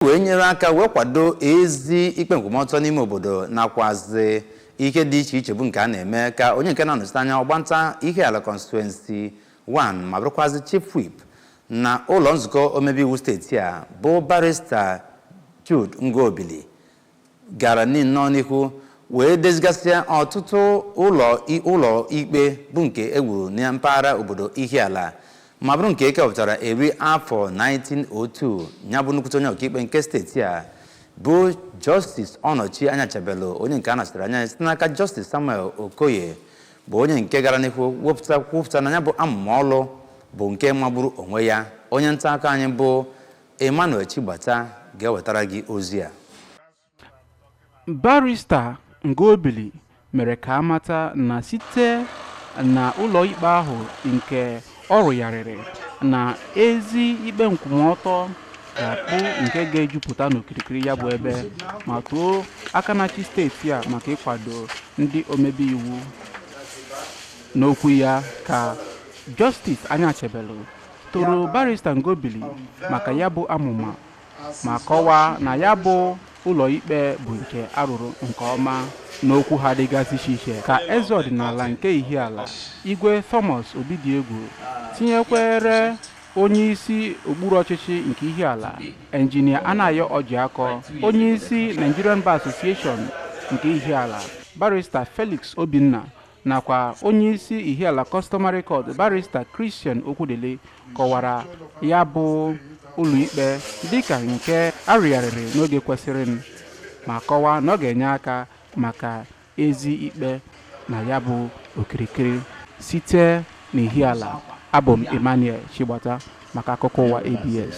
wee nyere aka wee kwado ezi ikpe nkwụmọtọ n'ime obodo nakwazi ihe dị iche iche bụ nke a na-eme ka onye nke na-anọchite anya ọgbanta Ihiala constituency 1 ma bụrụkwazi chief whip na ụlọ nzukọ omebe iwu steeti a bụ barista Jude Ngobili gara nnọọ n'ihu wee dezigasịa ọtụtụ ụlọ i- ụlọ ikpe bụ nke e wuru na mpaghara obodo Ihiala ma bụrụ nke e kepụtara eri afọ 1902 ya bụ nnukwute onye ọkaikpe nke steeti a bụ Justice Ọnọchi Anyachebelu onye nke a nọchitere anya ya site n'aka Justice Samuel Okoye bụ onye nke gara n'ihu wepụta kwupụta na ya bụ amụma ọlụ bụ nke magburu onwe ya onye nta akụkọ anyị bụ Emmanuel Chigbata ga-ewetara gị ozi a. Barrister Ngobili mere ka a mata na site na ụlọikpe ahụ nke ọ rụgharịrị na ezi ikpe nkwụmọtọ ga-abụ nke ga-ejupụta n'okirikiri ya bụ ebe ma too aka na-achị steeti a maka ịkwado ndị omebe iwu n'okwu ya ka Justice Anyachebelu toro barista Ngobili maka ya bụ amụma ma kọwaa na ya bụ ụlọikpe bụ nke a rụrụ nke ọma n'okwu ha dịgasị iche iche ka eze ọdịnala nke Ihiala Igwe Thomas Obidiegwu tinyekwere onye isi okpuru ọchịchị nke Ihiala enjinia Anayo Ọjịakọ onye isi Nigerian Bar Association nke Ihiala barista Felix Obinna nakwa onyeisi Ihiala Customary Court barista Christian Okwudili kọwara ya bụ ụlọikpe dịka nke a rụgharịrị n'oge kwesịrịnụ ma kọwaa na ọ ga-enye aka maka ezi ikpe na ya bụ okirikiri site n'Ihiala abụ m Emmanuel Chigbata maka akụkọ ụwa ABS